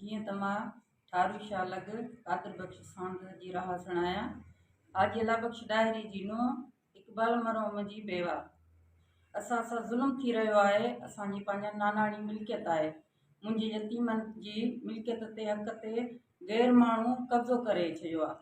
جيئن ته مان ٺارو شاهه لڳ قادر بخش ساند جي رهاٿڻ آهيان. حاجي الله بخش ڏاهري جي نونهن اقبال مرحوم جي بيوه. اسان سان ظلم ٿي رهيو آهي. اسان جي پنهنجي ناناڻي ملڪيت آهي. منهنجي يتيمن جي ملڪيت تي حق تي غير ماڻهو قبضو ڪري ڇڏيو آهي.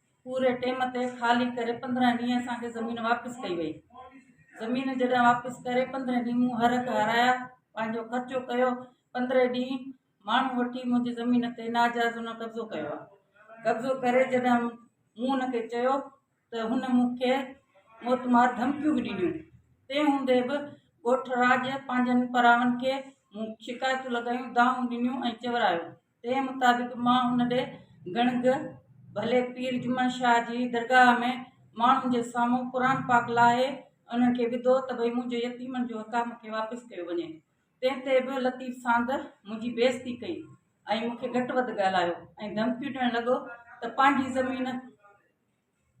پوري ٽيم تي خالي ڪري پندرهن ڏينهن اسان کي زمين واپس ڪئي وئي زمين جڏهن واپس ڪري پندرهن ڏينهن مون هر هڪ هارايا پنهنجو خرچو ڪيو پندرهن ڏينهن ماڻهو وٺي منهنجي زمين تي ناجائز هن قبضو ڪيو آهي قبضو ڪري جڏهن مون هن کي چيو ته هن مون کي موتمار ڌمڪيون به ڏنيون تنهن هوندي به ڳوٺ راڄ پنهنجن پراون کي مون شڪايتون لڳايون دانهون ڏنيون ۽ چورايو تنهن مطابق مان ان ڏي گڻگ ڀلي پير جمن شاهه جي درگاهه ۾ ماڻهن جي سامهون قرآن پاڪ لاهي انهن کي وڌو ته ڀئي منهنجو يتيمن جو حق آهي مون کي واپس ڪيو وڃي تنهن تي به لطيف ساند منهنجي بيعزتي ڪئي ۽ مون کي گهٽ وڌ ڳالهايو ۽ ڌمڪيون ڏيڻ لڳو ته پنهنجي زمين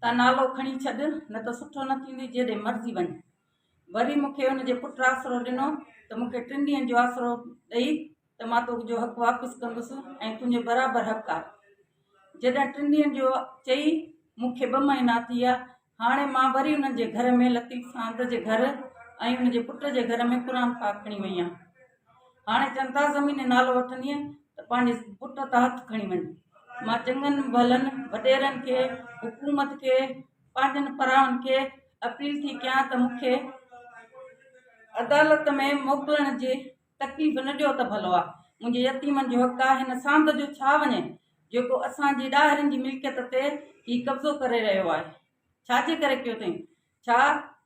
ته نالو کڻي ڇڏ، نه ته سٺو نه ٿيندي، جيڏي مرضي وڃ. وري مون کي ان جي پٽ آسرو ڏنو ته مون کي ٽن ڏينهن جو آسرو ڏئي ته مان تو جو حق واپس ڪندس ۽ تنهنجي برابر حق آ. جڏهن ٽن ڏينهن جو چئي مون کي ٻه مهينا ٿي ويا. هاڻي مان وري انهن جي گهر ۾ لطيف ساند جي گهر ۽ ان جي پٽ جي گهر ۾ قرآن پاڪ کڻي وئي آ. هاڻي جنتا زميني نالو وٺندينء ته پنهنجي پٽ تان هٿ کڻي وڃ. مان چڱن ڀلن وڏيرن کي، حڪومت کي، پنهنجن پراهن کي اپيل ٿي ڪيان ته مون کي عدالت ۾ موڪلڻ جي تڪليف نه ڏيو ته ڀلو آهي. منهنجي يتيمن جو حق آهي هن ساند جو ڇا وڃي جيڪو اسان جي ڏاهرين جي ملڪيت تي هي قبضو ڪري رهيو آهي. ڇا جي ڪري ڪيو اٿئي؟ ڇا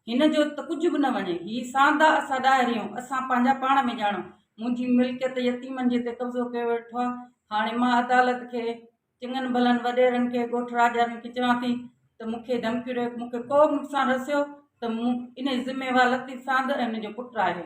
هن جو ته ڪجهه به نه وڃي. هي ساندا اسان ڏاهريون، اسان پنهنجا پاڻ ۾ ڄاڻون. منهنجي ملڪيت يتيمن جي تي قبضو ڪيو ويٺو آهي. هاڻي مان عدالت کي، چڱن ڀلن وڏيرن کي، ڳوٺ راڄاڻين کي چوان ٿي ته مون کي ڌمڪيون ڏيو. مون کي ڪو به نقصان رسيو ته انهي جو ذميوار لطيف ساند ۽ ان جو پٽ آهي.